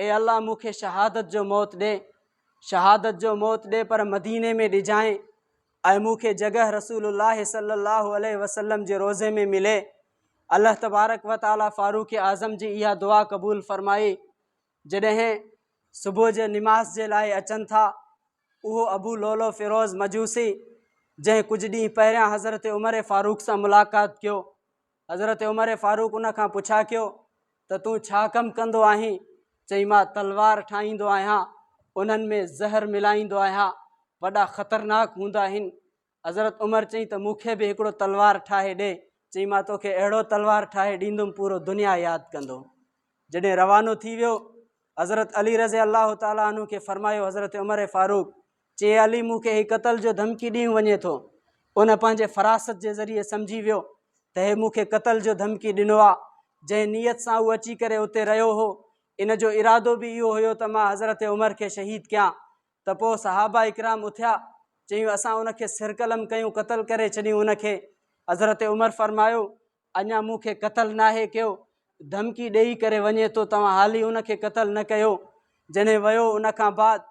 اي الله مون کي شهادت جو موت ڏي شهادت جو موت ڏي پر مديني ۾ ڏجانء اي مون کي جڳهه رسول الله صلي الله عليه وسلم جي روزي ۾ ملي الله تبارڪ و تعالي فاروق اعظم جي اها دعا قبول فرمائي جڏهن صبح جي نماز جي لاء اچن ٿا اهو ابو لولو فيروز مجوسي جنهن ڪجهه ڏينهن پهريان حضرت عمر فاروق سان ملاقات ڪيو حضرت عمر فاروق ان کان پڇا ڪيو ته تون ڇا ڪم ڪندو آهين چئي مان تلوار ٺاهيندو آهيان انهن ۾ زهر ملائيندو آهيان وڏا خطرناڪ هوندا آهن حضرت عمر چئي ته مون کي به هڪڙو تلوار ٺاهي ڏي چئي مان توکي اهڙو تلوار ٺاهي ڏيندم پورو دنيا ياد ڪندو جڏهن روانو ٿي ويو حضرت علي رضي الله تعالٰي عنه کي فرمايو حضرت عمر فاروق چي علي مون کي هي قتل جو ڌمڪي ڏينهن وڃي ٿو. ان پنهنجي فراست جي ذريعي سمجهي ويو ته هي مون کي قتل جو ڌمڪي ڏنو آ. جنهن نيت سان هو اچي ڪري اتي رهيو هو. ان جو ارادو به اهو هيو ته مان حضرت عمر کي شهيد ڪيان. ته پوء صحابه اڪرام اٿيا. چيون اسان ان کي سر قلم ڪيون قتل ڪري ڇڏيون ان کي. حضرت عمر فرمايو اڃا مون کي قتل ناهي ڪيو. ڌمڪي ڏيئي ڪري وڃي ٿو توهان حالي ان کي قتل نه ڪيو. جنهن ويو ان کان بعد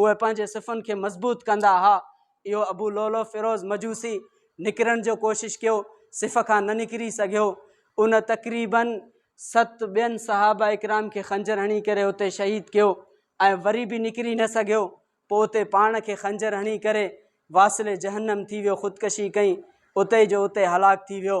اهي پنهنجي صفن کي مضبوط ڪندا ها. اهو ابو لؤلؤ فيروز مجوسي نڪرڻ جو ڪوشش ڪيو، صف کان نه نڪري سگهيو. ان تقريباً ست ٻين صحابه اڪرام کي خنجر هڻي ڪري اتي شهيد ڪيو ۽ وري به نڪري نه سگهيو. پوء اتي پاڻ کي خنجر هڻي ڪري واصل جهنم ٿي ويو، خودڪشي ڪئي، اتي جو اتي هلاڪ ٿي ويو.